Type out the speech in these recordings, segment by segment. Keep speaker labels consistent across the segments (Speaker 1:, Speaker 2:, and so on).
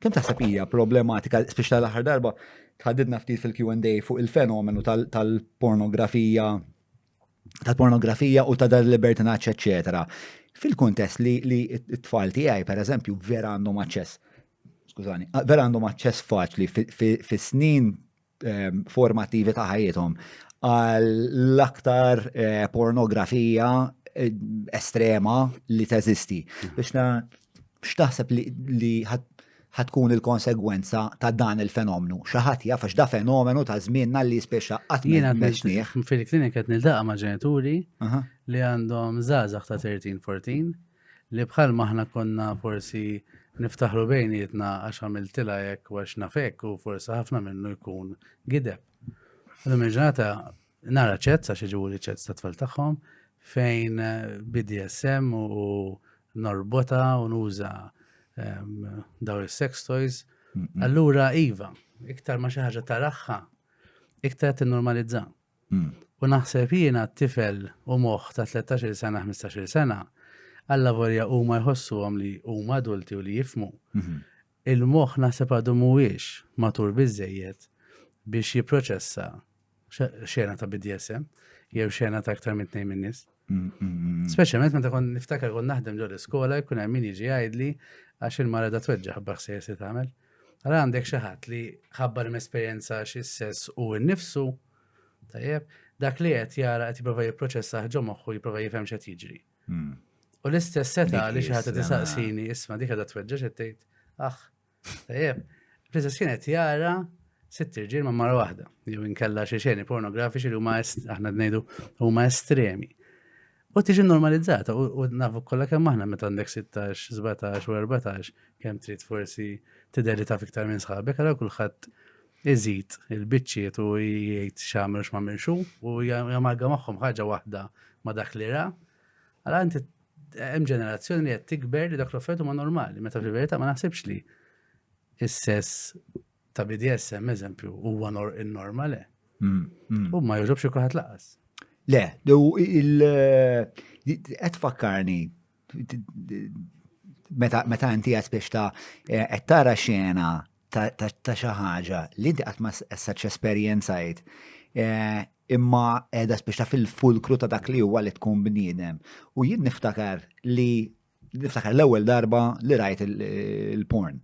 Speaker 1: Kemm taħseb hija problematika, spiex tal-aħħar darba tħaddidna ftit fil-Q&A fuq il-fenomenu tal-pornografija tal-pornografija u ta' dar libertinaċ, eccetera. Fil-kuntest li t-tfal tiegħi, per eżempju, vera għandhom aċċess, skużani, vera għandhom aċċess faċli fis-snin ehm, formattivi ta' ħajjithom għall aktar eh, pornografija eh, estrema li teżisti. Mhm. Biex na x'taħseb li ħatkun il-konsegwenza ta' dan il-fenomenu. Xaħat jaf da fenomenu ta' żmienna li speċa qatt ma meċnieħ. Fil-klinika qed nildaqa' ma' ġenituri li għandhom żgħażagħ ta' 13-14 li bħal ma aħna konna forsi niftaħru bejnietna għax għamiltila hekk u għax nafek u forsi ħafna minnu jkun gideb. Għadhom il-ġurnata nara ċezz għax iġibu li ċezz ta' tfal tagħhom fejn eh, BDSM u norbota u nuża ehm, daw il-sex toys. Allura, Iva, iktar ma xi ħaġa taraħħa, iktar tinnormalizza. U naħseb jiena t-tifel u moħħ ta' tlettax-il sena, ħmistax-il sena, allavolja huma jħossuhom li huma adulti u li jifhmu, il-moħħ naħseb għadu mhuwiex matur biżżejjed biex jipproċessa xena ta' BDSM jew xena ta' aktar minn tnejn min-nies. Speċjalment meta kon niftakar kon naħdem ġol iskola jkun hemm min jiġi jgħidli għax il-mara da tweġġa ħabba ħsejjer se tagħmel. Ara għandek xi ħadd li ħabba li mesperjenza xi sess u nnifsu tajjeb dak li qed jara qed jipprova jipproċessa ħġo moħħu jipprova jifhem x'qed jiġri. Hmm. U l-istess seta li xi ħadd tisaqsini isma' dik qed tweġġa x'qed tgħid. Aħ, Tajjeb, Princess kienet jara sitt irġiel ma' mara waħda, jew inkella xi xeni pornografiċi li huma aħna ngħidu huma estremi. U tiġi normalizzata u nafu kollha kemm aħna meta għandek 16, 17 u 14 kemm trid forsi tideli ta' fiktar minn sħabek, għal kulħadd iżid il-biċċiet u jgħid x'għamel x'ma' minxu u jamalga magħhom ħaġa waħda ma' dak li ra. Għala inti Hemm ġenerazzjoni li qed tikber li dak l-offertu ma normali, meta fil-verità ma naħsibx li is-sess ta' BDSM eżempju huwa normal le. Mm, mm. U ma jogħġobx kulħadd laqas. Le, il qed fakkarni meta inti qed biex ta' eh, qed tara xena ta' xi ħaġa li inti qatt ma s-saċ esperjenzajt eh, imma qiegħda spiċċa fil-fulkru ta' dak li huwa li tkun bniedem. U jien niftakar li niftakar l-ewwel darba li rajt il-porn.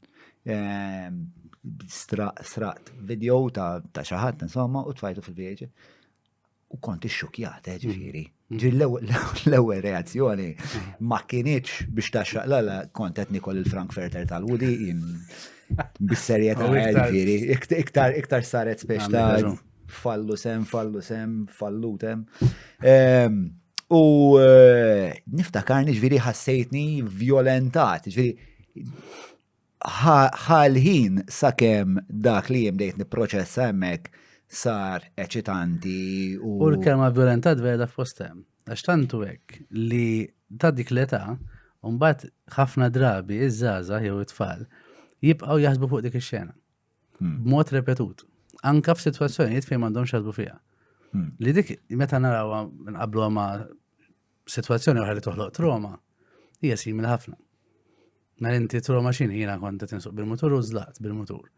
Speaker 1: Ehm, straqt video ta' xi ħadd insomma u tfajtu fil-vieġi. U kont ixxukjat, eh, ġifieri. Ġi l-ewwel reazzjoni ma kienieċ biex taxxaq l-għala kont qed nikol il-Frankfurter tal-Wudi jien bis-serjetà ġifieri. Iktar iktar saret speċ ta' fallu sem, fallu sem, fallutem. Ehm, u eh, niftakarni ġifieri ħassejtni violentat, ġifieri ħa l-ħin sakemm dak li jien bdejt nipproċessa hemmhekk sar eċitanti u. U l-kelma violentat vera f'postem. Għax tantu hekk li ta' dik l-età mbagħad ħafna drabi iż-żgħażagħ jew it-tfal jibqgħu jaħsbu fuq dik ix-xena. Hmm. B'mod repetut. Anka f'sitwazzjonijiet fejn m'għandhomx jaħsbu fiha. Hmm. Li dik meta narawha nqablu ma' Situazzjoni oħra li toħloq troma hija simili ħafna. Ma mela inti troma xin jiena kont qed insuq bil-mutur u żlaqt bil-mutur.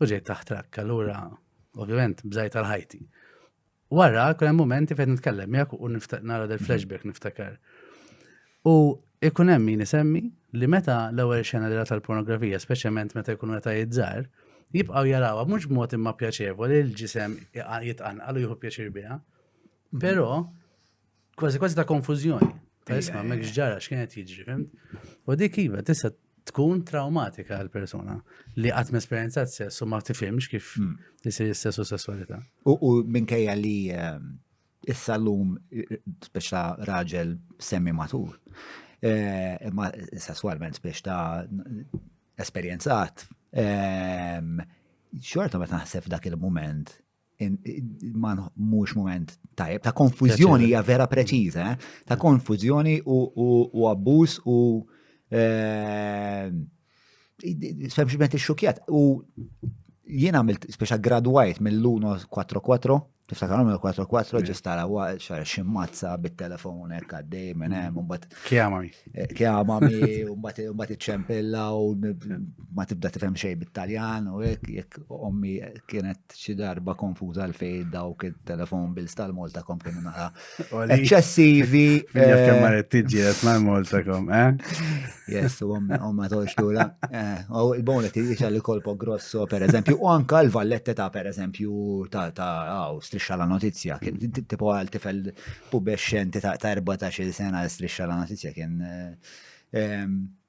Speaker 1: U ġejt taħt trakk, allura ovvjament bżajt għal ħajti. Wara, kien hemm momenti fejn nitkellem jekk u nara del flashback niftakar. U ikun hemm min isemmi li meta l-ewwel xena li tal-pornografija, speċjalment meta jkunu meta jizzar, jibqgħu jarawha mhux b'mod imma pjaċevoli l-ġisem jitqanqal u jieħu pjaċir biha. Mhm. Però Kważi kważi ta' konfużjoni. Ta' isma' mek ġara x'kienet jiġri, fim? U dik iva tista' tkun traumatika għal persona li qatt esperjenza t sess u ma tifhimx kif hmm. isir is-sess u sessualità. U minkejja li ehm, issa l-lum speċa raġel semmi matur. Eh, imma sessualment biex ta' esperienzat. Ehm, xorta ma naħseb dak il-moment mhux moment tajjeb, ta' konfużjoni hija vera preċiża, eh? ta' konfużjoni u abbuż u eh, sempliċement ix-xukjat. U jien għamilt speċa gradwajt mill-1 4-4, tiftakar mill 4-4 ġistara huwa xar ximmazza bit-telefon hekk għaddej minn hemm imbagħad. Kjamami. Eh, Kjamami u mbagħad iċċempilla u ma tibda tifhem xejn bit-Taljan u hekk jekk ommi kienet xi darba konfuża għal fej dawk il-telefon bills tal-Moltakom kienu nara. Eċċessivi. Jaf kemm ma tiġi qed mal Moltakom, eh? Yes, u ma tolx lura. Eh, u il-bonet jiġa li kolpo grosso, per eżempju, u anka l-vallette ta' per eżempju ta' għaw, strisċa la notizja, tipo għal tifel pubesċenti ta' 14 sena strisċa la notizja kien eh,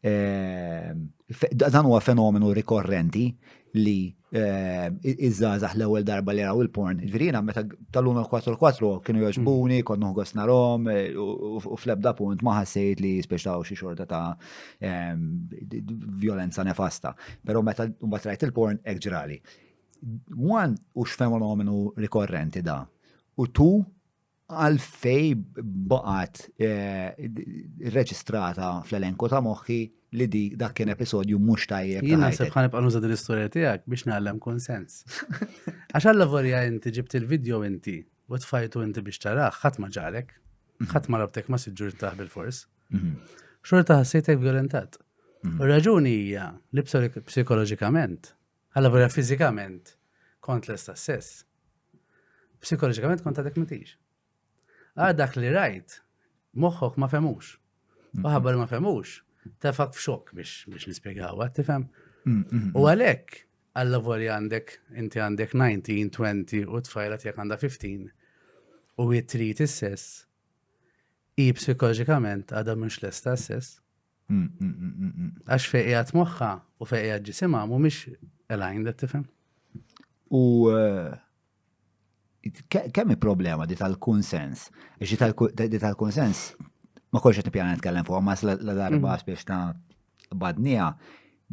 Speaker 1: Ehm, dan huwa fenomenu rikorrenti li ehm, iż-żazax l-ewwel darba li raw il-porn. Ġvirina, meta tal-lum 4-4 kienu joġbuni, mm. konnu għos narom, e, u fl-ebda punt ma ħassejt li speċtaw xi xorta ta' ehm, violenza nefasta. Pero meta mbagħad rajt il-porn hekk ġrali. Wan hux fenomenu rikorrenti da. U tu Għalfej baqgħet eh, reġistrata fl-elenku ta' moħħi li di dak kien episodju mhux tajjeb. Jien naħseb ħan ibqa' nuża din l-istorja tiegħek biex nagħlem konsens. Għax alla vorja inti ġibt il-video inti u tfajtu inti biex taraħ, ħadd ma ġarek, mhm. ħadd ma rabtek ma siġġur taħ bil-fors. Mhm. Xorta ħassejtek violentat. Mhm. U raġuni hija li psikoloġikament Allura fiżikament kont lesta stess. Psikoloġikament kont għadek mitix. Għad dak li rajt, moħħok ma femux. U ħabba li ma femux, tefak f'xok biex biex nispjegaw, għad tifhem. U għalhekk għalla voli għandek, inti għandek 19, 20 u tfajla tiegħek għandha 15 u jitrit is-sess, i psikoloġikament għadha mhux lesta s-sess, Għax fejn qiegħed moħħa u fejn qiegħed ġisimha mhumiex aligned qed tifhem. U eh, kemm problema di tal-kunsens? Di tal-kunsens ma kolx qed nippjana nitkellem fuq, ma la darba mm. biex ta' badnija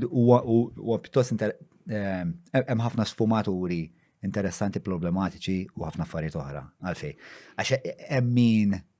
Speaker 1: u pjuttost eh, hemm ħafna sfumaturi interessanti, problematiċi u ħafna affarijiet oħra għalfej. Għax hemm min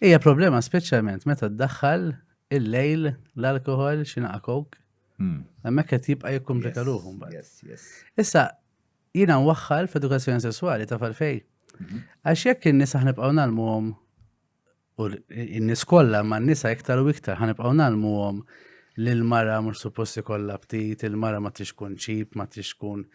Speaker 1: Hija problema speċjalment meta ddaħħal il-lejl l-alkohol xinaqa kok. Hmm. Hemmhekk qed jibqa' jikkumplika ruħu mbagħad. Issa jiena nwaħħal f'edukazzjoni sesswali ta' falfej. Mhm. Għax jekk in-nisa ħnibqgħu nagħlmuhom u n-nies kollha ma' nisa iktar u iktar ħanibqgħu nagħlmuhom li l-mara mhux suppost ikollha ptit, il-mara ma tix tkun ċip, ma tix tkun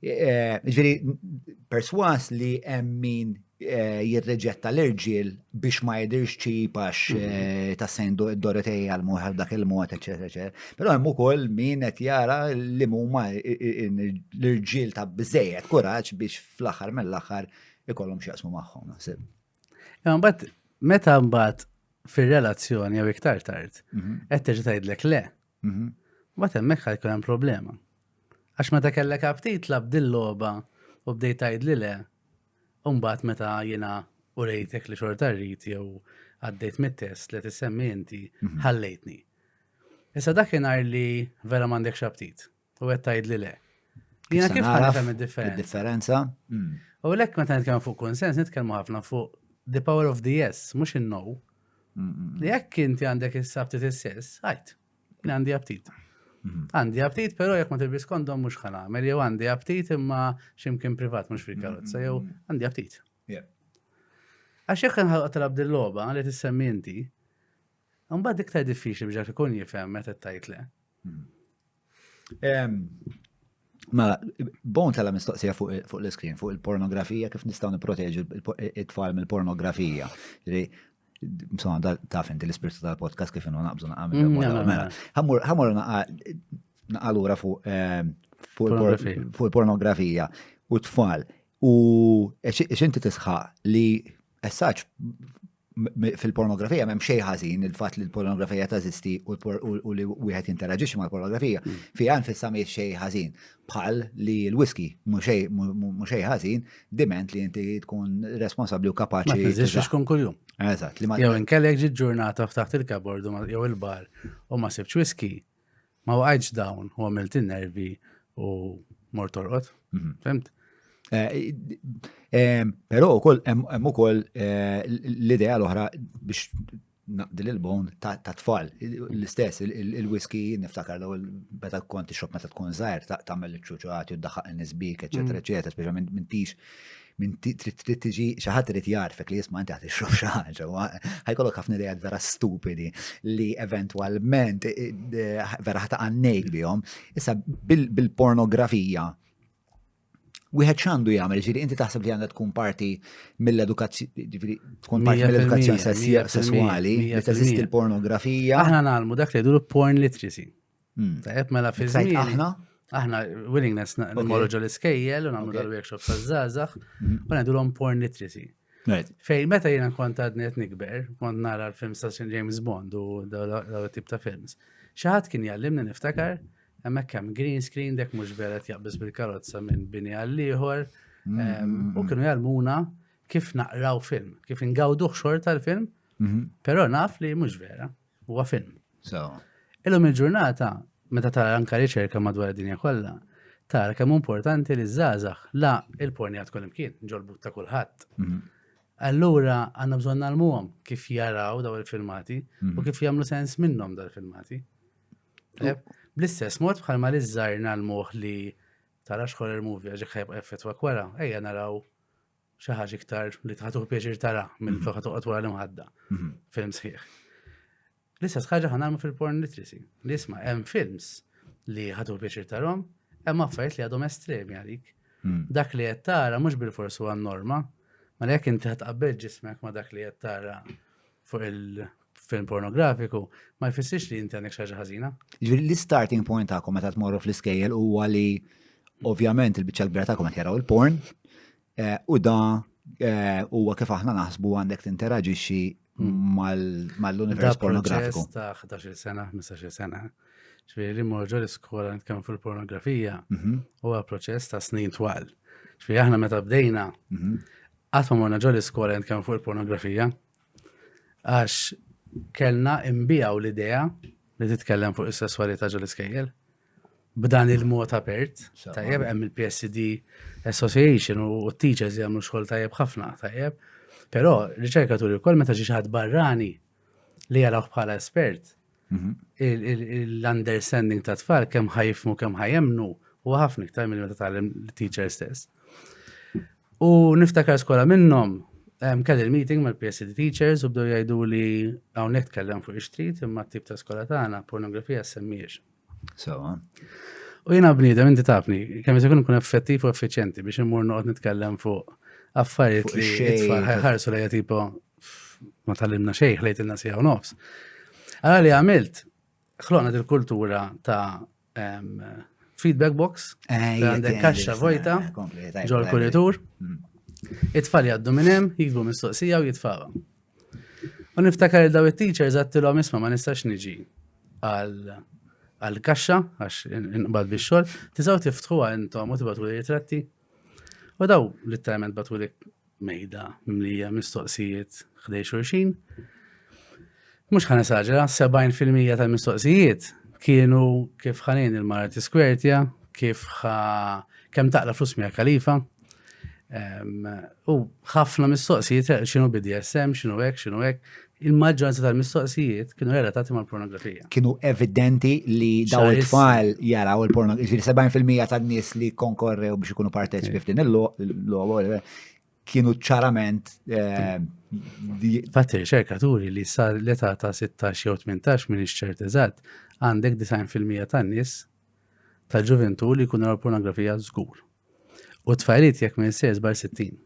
Speaker 1: Eh, ġviri, perswas li emmin eh, jirreġetta l-irġil biex ma jidirx ċip għax mhm. eh, ta' sejn Dorotej għal-muħar dak il-mod, eccetera, eccetera. Pero hemm ukoll min qed jara li huma l-irġil ta' bżejjed kuraġġ biex fl-aħħar mill-aħħar ikollhom x'jaqsmu magħhom naħseb. Imbagħad meta mbagħad fir-relazzjoni jew iktar tard mhm. qed terġa' tgħidlek le. Mhm. Mbagħad hemmhekk ħajkun hemm problema. Għax meta kellek aptit lab dil-logħba u bdejt tgħid li le, u mbagħad meta jiena u rejtek li xorta rrid jew għaddejt mit-test li tissemmi inti mhm. ħallejtni. Issa dakinhar li vera m'għandekx aptit. U qed tgħidli le. Jiena kif nifhem id-differenza? Differenza? Hmm. U lek meta nitkellmu fuq konsens, nitkellmu ħafna fuq the power of the yes, mhux in-no. Hmm, hmm, Li jekk inti għandek is-sabti is-sess, għajt, għandi aptit. Mhm. Għandi aptit, pero jek ma tilbis kondom mux ħana, għamel jew għandi aptit imma ximkien privat mux fil karotza, jew mhm. għandi aptit. Għax jek nħalqa talab dil-loba li tissemmi inti, mbagħad iktar diffiċli biex ikun jifhem meta tajt le. Hmm. Mela, bon tala mistoqsija fuq l-iskrin, fuq il-pornografija, kif nistaw niproteġu it-tfal mill-pornografija. Msona, da taf inti l-ispirtu tal-podcast kif innu naqbżu naqqa minn mm, mela, mela. Ħammur naqqa l-ura eh, fuq il-pornografija u t-tfal. U xinti tisħaq li essaċ fil-pornografija m'hemm xejn ħażin il-fatt li l-pornografija tażisti u li wieħed jinteraġixxi mal-pornografija mm. fiha nfissa mhi xejn ħażin bħal li l-whisky mhux xejn ħażin diment li inti tkun responsabbli u kapaċi. Ma tiżix tkun kuljum. Eżatt. Jew inkellek ġi ġurnata f'taħt il-kabord jew il-bar u ma sibx whisky Ma waqajtx dawn u għamilt in-nervi u mort torqod. Mhm. Fimt? Eh, eh, Pero u koll, hemm ukoll eh, l-idea l-oħra biex naqdi l-bon ta' tfal. L-istess, il-whisky niftakar l beta konti xop meta tkun zaħir ta' mel ċuċuħat, juddaħħaq n-nisbik, eccetera, eccetera, mhm. speċa minn tix Min trid trid tiġi xi ħadd irid jgħarfek li jisma' inti qed ixrob xi ħaġa. Ħajkollok ħafna idejat vera stupidi li eventwalment vera ħata għannejk bihom. Issa bil-pornografija wieħed x'għandu jagħmel, ġiri inti taħseb li għandha tkun parti mill-edukazzjoni, tkun parti mill-edukazzjoni sesswali, li teżisti l-pornografija. Aħna nagħlmu dak li jdur porn literacy. Hmm. Tajab, mela fi żmien. Aħna? Aħna willingness nagħmlu ġol iskejjel u nagħmlu dal-workshop ta' żgħażagħ hmm. u ngħidulhom porn literacy. Fej, meta jena kont għadni għet nikber, kont nara l-films ta' James Bond u daw tip ta' films. Xaħat kien jallimni niftakar, emmek kem green screen dek mux beret jaqbis bil-karozza minn bini għall-liħor, mm-hmm. u kienu jallmuna kif naqraw film, kif ingawduħ xorta l-film, mm-hmm. pero naf li mux vera. Huwa film. So. Illum il-ġurnata, meta tara anka riċerka madwar id-dinja kollha, tara kemm importanti li żgħażagħ la il-pornijat kull imkien, ġolbut ta' kulħadd. Mhm. Allura għandna bżonn nagħlmuhom kif jaraw daw il-filmati u mhm. kif jagħmlu sens minnhom daw il-filmati. Bl-istess mod bħalma li żżar nagħlmuh li tara xħor il-movie għax ħajb effett wara, ejja naraw xi ħaġa iktar li tħatuh pjaċir tara minn mhm. toħħa toqgħod wara l-imħadda. Mhm. Film sħiħ. L-istess ħaġa ħa nagħmlu fil-porn literacy. Li isma' hemm films li ħatuh pjaċir tarhom, hemm affarijiet li għadhom estremi għalik. Mhm. Dak li qed tara mhux bil-forsi huwa norma, ma jekk inti ħad tqabbel ġismek ma dak li qed tara fuq il-film pornografiku ma jfissirx li inti għandek xi ħaġa ħażina. Jiġifieri l-starting point tagħkom meta tmorru fl-iskejjel huwa li ovvjament il-biċċa l-kbira tagħkom qed jaraw il-porn eh, u da eh, huwa kif aħna naħsbu għandek tinteraġixxi hmm. mal-univers pornografiku. Ta' 11 sena, 15 sena. Ġifieri li morġu l-iskola nitkellmu fil-pornografija mhm. huwa proċess ta' snin twal. Ġifieri aħna meta bdejna mhm. Qatt ma morna ġol iskola nitkellmu fuq il-pornografija. Għax kellna imbijaw l-idea li titkellem fuq is-sesswalità ġol iskejjel. B'dan il-mod apert, tajjeb, hemm il-PSD Association u t-teachers jagħmlu xogħol tajjeb ħafna, tajjeb. Però riċerkaturi wkoll meta ġi xi ħadd barrani li jarawh bħala espert, Mhm. l-understanding ta' tfal kemm ħajfmu kemm ħajemnu u ħafna iktar minn meta tagħlem teacher stess. U niftakar skola minnhom kelli l-meeting mal-PSD teachers u bdew jgħidu li hawnhekk tkellem fuq ix-street imma t-tip ta' skola tagħna pornografija semmiex. Sewa. U jiena bniedem inti tafni, kemm se ikun effettiv u effiċjenti biex immur noqgħod nitkellem fuq affarijiet li ħarsu lejja tipo ma tallimna xejn, ħlejtilna sija u nofs. Għara li għamilt, ħloqna dil-kultura ta' feedback box, eh, għandek kaxxa vojta, eh, ġol kuritur, mm. it-tfal jaddu minnem, jikbu mistoqsija u jitfawa. U niftakar il-daw il-teachers għattilom isma ma nistax niġi għal-kaxxa, għax nqbad biex xol, tizaw tiftħu għal intom u tibatu li jitratti. U daw literalment batulik mejda mlija mistoqsijiet ħdej xulxin. Mux ħan esaġera, 70% tal-mistoqsijiet kienu kif ħanin il-mara tiskwertja, kif ħa kem taqla flus mija kalifa. U ħafna mistoqsijiet xinu BDSM, xinu ek, xinu ek, Il-maġġoranza tal-mistoqsijiet kienu relatati mal-pornografija. Kienu evidenti li daw it-tfal jaraw il-pornografija. 70% tan-nies li konkorrew biex ikunu parteċipi eh. f'din il-logħol eh, kienu ċarament eh, Fatti riċerkaturi li sar l-età ta' 16 jew 18 minn ixċert eżatt għandek 90% tan-nies tal-ġuventu li jkunu pornografija żgur. U tfajliet jekk minn sejs bar 60.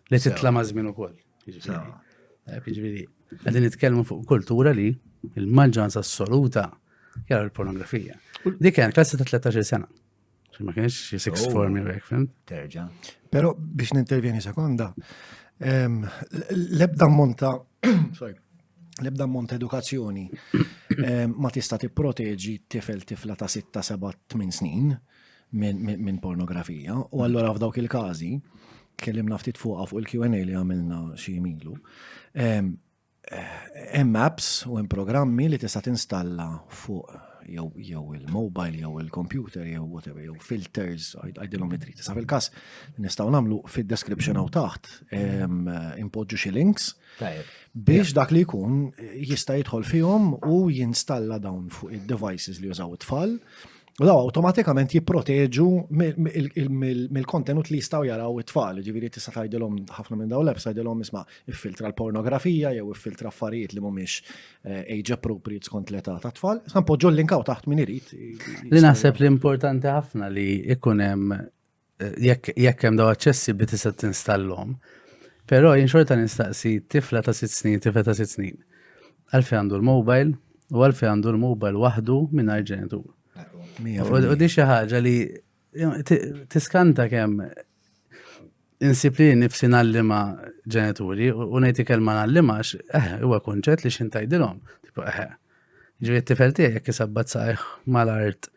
Speaker 1: Li titla ma' żmien ukoll. Jiġifieri, qegħdin nitkellmu fuq kultura li il-maġġoranza assoluta jara l-pornografija. Dik kien klassi ta' 13 sena. Ma kienx xi six oh. form jek, fim? Terġa. Però biex nintervjeni sekonda, ehm, l-ebda monta, sorry, l-ebda monta edukazzjoni ehm, ma tista' tipproteġi tifel tifla ta' 6, 7, 8 snin minn pornografija u allura f'dawk il-każi kellimna ftit fuqha fuq il-Q&A li għamilna xi milu. Hemm apps u hemm programmi li tista' tinstalla fuq jew il-mobile jew il-computer jew whatever jew filters għajdilhom li trid. Sa fil-każ nistgħu nagħmlu fid-description hawn taħt impoġġu xi links biex dak li jkun jista' jidħol fihom u jinstalla dawn fuq id-devices li jużaw it-tfal U daw awtomatikament jipproteġu mill-kontenut li jistgħu jaraw it-tfal, ġifieri tista' tgħidilhom ħafna minn dawn l-apps tgħidilhom isma' iffiltra l-pornografija jew iffiltra affarijiet li mhumiex eh, age appropriate skont l-età tat-tfal. Sa npoġġu l-linkaw taħt min irid. Li naħseb li importanti ħafna li ikun hemm jekk hemm daw aċċessi bi tista' tinstallhom. Però jien xorta nistaqsi tifla ta' sitt snin, tifla ta' sitt snin. Għalfej għandu l-mobile u għalfej għandu l-mobile waħdu mingħajr ġenitur. U di xi ħaġa li tiskanta kemm insib li nifsi nallima ġenituri u ngħid kelma nallimax, eh, huwa kunċett li xintajdilhom. Tipo eh. Ġifieri t-tifel tiegħek jekk isabbat saqajh mal-art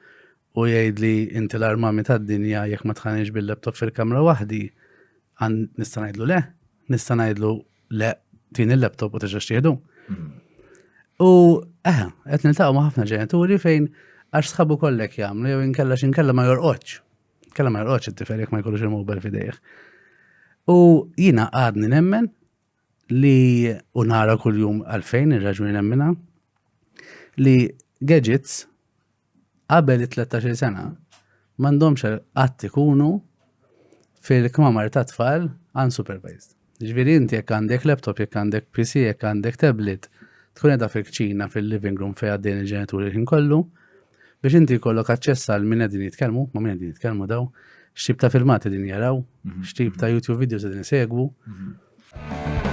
Speaker 1: u jgħidli inti l-armami tad-dinja jekk ma tħanix bil-laptop fil-kamra waħdi, għan nista' ngħidlu le, nista' ngħidlu le tin il-laptop u terġa' xtieħdu. Mm. U eħe, eh, qed niltaqgħu ma' ħafna ġenituri fejn għax sħabu kollek jagħmlu jew inkella x'inkella ma jorqodx. Kella ma jorqodx it-tifel jekk ma jkollux il-mobile fidejh. U jina għadni nemmen li u nara kuljum għalfejn ir-raġuni nemmina li gadgets qabel it-13 sena m'għandhomx qatt ikunu fil-kmamar ta' tfal unsupervised. Ġifieri inti jekk għandek laptop, jekk għandek PC, jekk għandek tablet, tkun edha fil-kċina fil-living room fejn għaddejn il-ġenituri ħin kollu, biex inti jkollok aċċess għal minn qegħdin jitkellmu, ma' minn qegħdin jitkellmu daw, x'tip ta' filmati din jaraw, mhm. x'tip ta' YouTube videos din segwu. Mhm.